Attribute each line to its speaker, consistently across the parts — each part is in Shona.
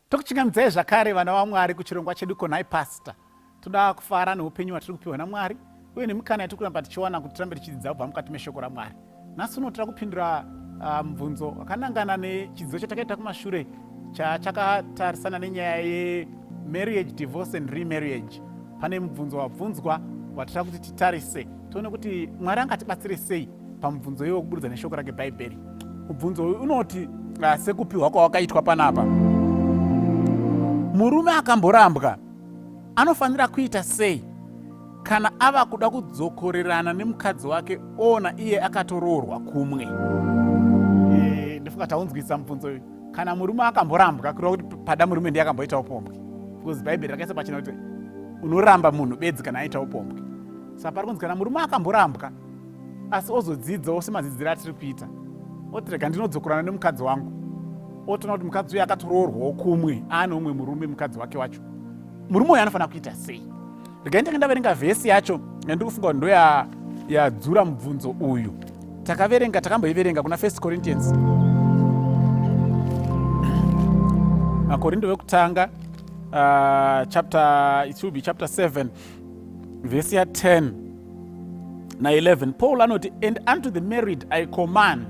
Speaker 1: Tokuchingamdzai zvakare vana vaMwari kuchirongwa chedu konai pastor. Toda kufara neupenyu hwatiri kupiwa naMwari uye nemikana yatiri kuramba tichiwana kuti tirambe tichidzidza kubva mukati meshoko raMwari. Nhasi uno tira kupindura ah, mubvunzo um, wakanangana nechidzidzo chatakaita kumashure chachakatarisana nenyaya yemarriage divorce and remarriage. Pane mubvunzo wabvunzwa watira kuti titarise tione kuti Mwari angatibatsire sei. pamubvunzo iwe kuburudza neshoko rake bhaibheri mubvunzo uyu unoti ah, sekupiwa kwawakaitwa panapa murume akamborambwa anofanira kuita sei kana ava kuda kudzokorerana nemukadzi wake ona iye akatoroorwa kumwe eh, ndofunga taunzwisa mubvunzo uyu kana murume akamborambwa kureva kuti pada murume ndiye akamboita upombwe because bhaibheri rakaisa pachina kuti unoramba munhu bedzi kana aita upombwe saka pari kunzi kana murume akamborambwa asi ozodzidzawo semadzidziro atiri kuita oti rega ndinodzokorana nemukadzi wangu otoona kuti mukadzi uye akatoroorwawo kumwe aane umwe murume mukadzi wake wacho murume uyo anofanira kuita sei rega nditange ndaverenga vhesi yacho nandi kufunga kuti ndoyadzura mubvunzo uyu takaverenga takamboiverenga kuna first corinthians makorindo vekutanga uh, chapter it will be chapter 7 vhesi ya 10 na 11 paul anoti and unto the married i command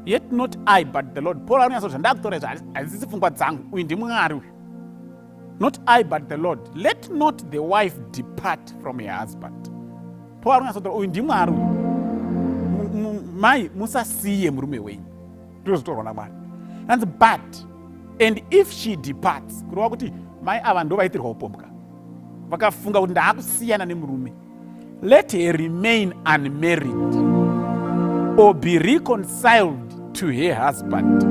Speaker 1: yet not i but the lord paul anonyatsa kuti zvandakutora izvo hazisi pfungwa dzangu uyu ndimwari uyu not i but the lord let not the wife depart from her husband paul anonyatsa kutora uyu ndimwari uyu mai musasiye murume wenyu ndozvitorwa namwari anzi but and if she departs kureva kuti mai ava ndo vaitirwa upombwa vakafunga kuti ndaakusiyana nemurume let her remain unmarried or be reconciled to her husband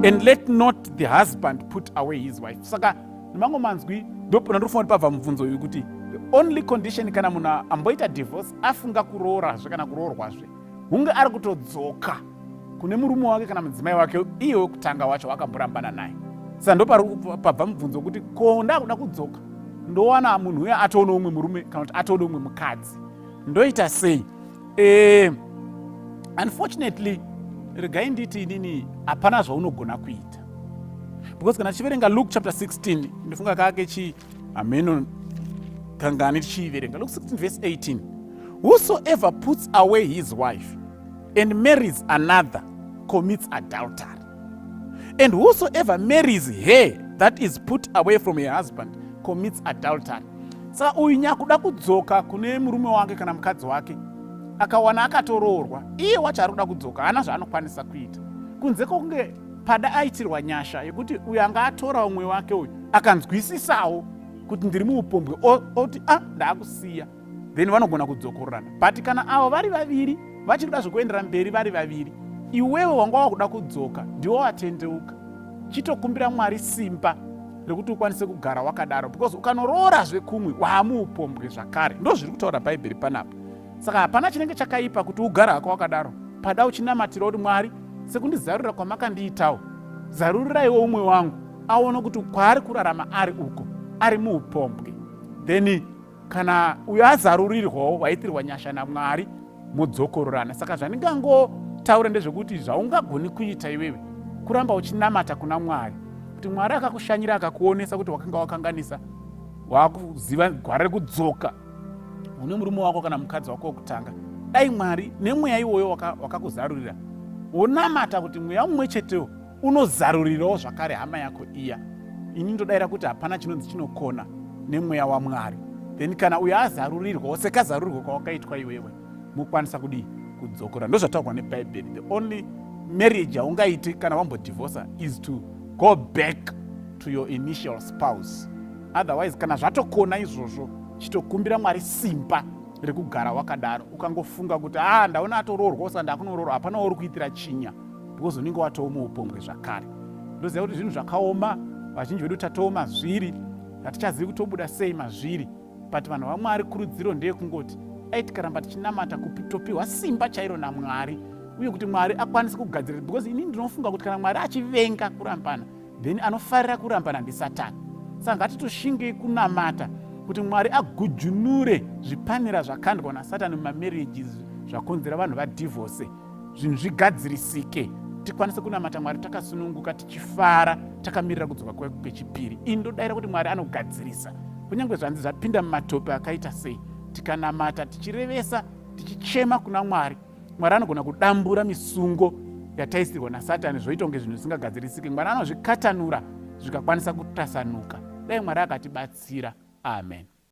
Speaker 1: and let not the husband put away his wife saka nemamwe manzwi ndopona ndofunga kuti pabva mubvunzo uyu kuti the only condition kana munhu amboita divorce afunga kuroora zve kana kuroorwa zve hunge ari kutodzoka kune murume wake kana mudzimai wake iye wekutanga wacho wakamborambana naye saka ndopari pabva mubvunzo wekuti ko ndakuda kudzoka ndowana munhu uya atoone umwe murume kana kuti atoone umwe mukadzi ndoita sei e, unfortunately regai nditi inini hapana zvaunogona kuita because kana tichiverenga luke chapter 16 ndofunga kake chii hameno kangani tichiiverenga looks like verse 18 whosoever puts away his wife and marries another commits adultery and whosoever marries her that is put away from her husband commits adultery saka uyu nyakuda kudzoka kune murume wake kana mukadzi wake akawana akatoroorwa iye wacho ari kuda kudzoka haana zvaanokwanisa kuita kunze kwokunge Pada aitirwa nyasha yekuti uyu anga atora umwe wake uyu akanzwisisawo kuti ndiri muupombwe oti a ah, ndaakusiya then vanogona kudzokororana but kana avo vari vaviri vachiri kuda zvekuendera mberi vari vaviri iwewe wanga wakuda kudzoka ndiwo watendeuka chitokumbira mwari simba rekuti ukwanise kugara wakadaro because ukanoroora zvekumwe waamuupombwe zvakare ndo zviri kutaura bhaibheri panapa saka hapana chinenge chakaipa kuti ugara hako wakadaro pada uchinamatira kuti mwari sekundizarurira kwamakandiitawo zaruriraiwo umwe wangu aone kuti kwaari kurarama ari uko ari muupombwe then kana uyo azarurirwawo waitirwa nyasha namwari modzokororana saka zvandingangotaura ndezvekuti zvaungagoni kuita iwewe kuramba uchinamata kuna mwari kuti mwari akakushanyira akakuonesa kuti wakanga wakanganisa wakuziva gwara rekudzoka une murume wako kana mukadzi wako wekutanga dai mwari nemweya iwoyo wakakuzarurira waka wonamata kuti mweya mumwe chetewo unozarurirawo zvakare hama yako iya ini ndodaira kuti hapana chinonzi chinokona nemweya wamwari then kana uyo azarurirwawo sekazarurirwa kwawakaitwa iwewe mokwanisa kudii kudzokora ndozvataurwa nebhaibheri the only marriage yaungaite kana wambodivhosa is to go back to your initial spouse otherwise kana zvatokona izvozvo chitokumbira mwari simba rekugara wakadaro ukangofunga kuti a ah, ndaona atoroorwa usati ndakunoroorwa hapana wauri kuitira chinya because unenge watoo muupombwe zvakare ndoziva kuti zvinhu zvakaoma vazhinji vedu tatoo mazviri hatichazivi kutobuda sei mazviri but vanhu vamwari kurudziro ndeyekungoti dai tikaramba tichinamata kutopiwa simba chairo namwari uye kuti mwari akwanise kugadzirira because ini ndinofunga kuti kana mwari achivenga kurambana then anofarira kurambana ndisatani saka ngatitoshingei kunamata kuti mwari agujunure zvipanera zvakandwa nasatani mumamarriages zvakonzera vanhu vadivorce zvinhu zvigadzirisike tikwanise kunamata mwari takasununguka tichifara takamirira kudzoka kwake kwechipiri ini ndodaira kuti mwari anogadzirisa kunyange zvanzi zvapinda mumatope akaita sei tikanamata tichirevesa tichichema kuna mwari mwari anogona kudambura misungo yataisirwa nasatani zvoita kunge zvinhu zvisingagadzirisike mwari anozvikatanura zvikakwanisa kutasanuka dai mwari akatibatsira amen